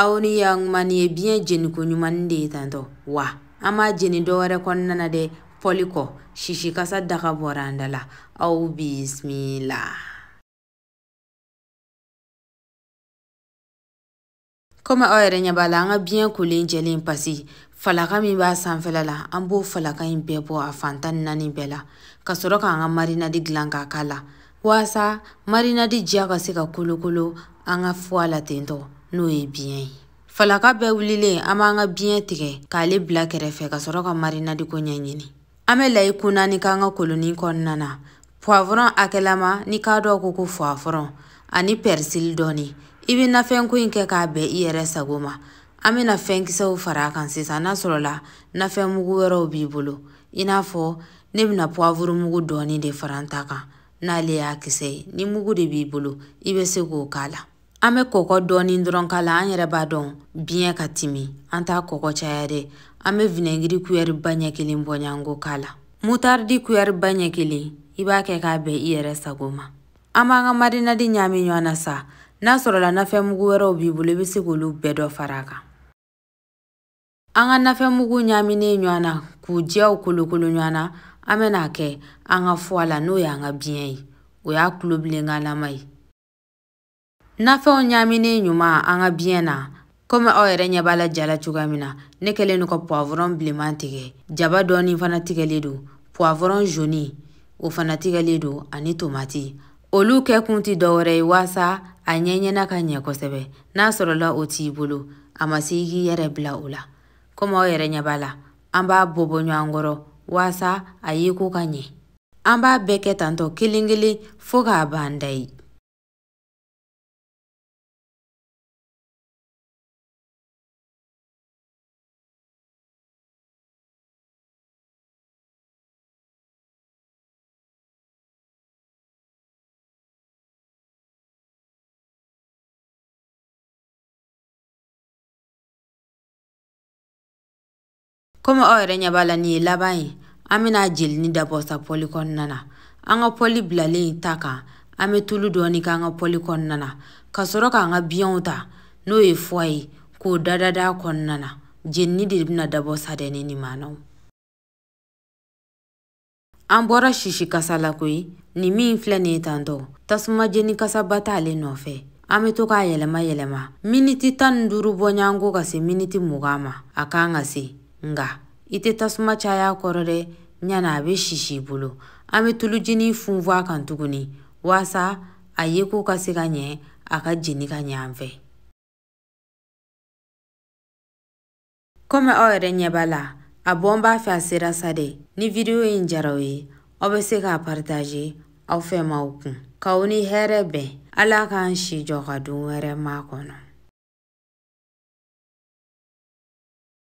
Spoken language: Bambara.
aw ni yankuman ye biɲɛ jeniko ɲuman de ye tantɔ wa an m'a jeni dɔ wɛrɛ kɔnɔna na dɛ pɔli kɔ sisikasa daga bɔra an da la aw bisimila komi aw yɛrɛ ɲɛ b'a la an ka biɲɛ kolen jɛlen pasi falaka min b'a sanfɛla la an b'o falaka in bɛɛ bɔ a fantan naani bɛɛ la ka sɔrɔ k'an ka marinadi dilan k'a k'a la waasa marinadi diya ka se ka kolokolo an ka fuwa la tentɔ n'o ye biɲɛ ye falaka bɛɛ wulilen an b'an ka biɲɛ tigɛ k'ale bila kɛrɛfɛ ka sɔrɔ ka marinadiko ɲɛɲini an bɛ layi kun naani k'an ka koloni kɔnɔna na puwavɔrɔn hakɛlama ni k'a dɔ ko ko puwavɔrɔn ani pɛrisili dɔɔni i bɛ nafɛnko in kɛ k'a bɛn i yɛrɛ sago ma an bɛna fɛnkisɛw fara a kan sisan n'a sɔrɔla nafɛnmugu wɛrɛw b'i bolo i n'a fɔ ne bɛna puwavuru mugu dɔɔni de fara n ta kan n'ale y'a kisɛ ye ni mugu de b'i bolo i bɛ se k'o k'a la an bɛ kɔkɔ dɔɔni dɔrɔn k'a la an yɛrɛ b'a dɔn biɲɛ ka timi an t'a kɔkɔ caya dɛ an bɛ vinɛgiri kuyɛri ba ɲɛ kelen bɔɲanko k'a la mutaridi kuyɛri ba ɲɛ kelen i b'a kɛ k'a bɛn i yɛrɛ sago ma an b'an ka marinadi ɲaami ɲɔgɔn na sa n'a sɔrɔla nafɛnmugu wɛrɛw b'i bolo i bɛ se k'olu bɛɛ dɔ fara a kan an ka nafɛnmugu ɲaaminen ɲɔgɔn na k'u diyaw kolokolo ɲɔgɔn na an bɛna a kɛ an ka fuwa la n'o y'an ka biɲɛ ye o y'a tulobilenkanlama ye nafɛnw ɲaaminen ɲuman an ka biɲɛ na komi aw yɛrɛ ɲɛ b'a la ja la cogoya min na ne kɛlen don ka puwavɔrɔn bilenman tigɛ jaba dɔɔni fana tigɛlen don puwavɔrɔn joni o fana tigɛlen don ani tomati olu kɛkun tɛ dɔwɛrɛ ye waasa a ɲɛɲɛna ka ɲɛ kosɛbɛ n'a sɔrɔla o t'i bolo a ma se i k'i yɛrɛ bila o la komi aw yɛrɛ ɲɛ b'a la an b'a bɔ bɔ ɲɔgɔn kɔrɔ waasa a yeko ka ɲɛ an b'a bɛɛ kɛ tantɔ kelen kelen fo k'a ban dayi komi aw yɛrɛ ɲɛ b'a la nin ye laban ye an bɛna jelini dabɔ sa pɔli kɔnɔna na an ka pɔli bilalen ta kan an bɛ tulu dɔɔni k'an ka pɔli kɔnɔna na ka sɔrɔ k'an ka biyɛnw ta n'o ye fuwa ye k'o dadada kɔnɔna na jenini de bɛna dabɔ sa dɛ ne ni maanaw an bɔra sisi kasa la koyi nin min filɛ nin ye tantɔ tasuma jeni kasaba t'ale nɔfɛ an be to k'a yɛlɛma yɛlɛma miniti tan ni duuru bɔɲanko ka se miniti mugan ma a kan ka se nga i tɛ tasuma caya kɔrɔ dɛ ɲana a be sisi i bolo an be tuluji nin funfun a kan tuguni waasa a ye ko ka se ka ɲɛ a ka jeni ka ɲɛ an fɛ Kɔmi aw yɛrɛ ɲɛ b'a la, a bɔ n b'a fɛ a sera sa dɛ. Ni video in jara aw ye, aw bɛ se k'a partager aw fɛmaaw kun. K'aw ni hɛrɛ bɛn. Ala k'an si jɔ ka don wɛrɛ makɔnɔ.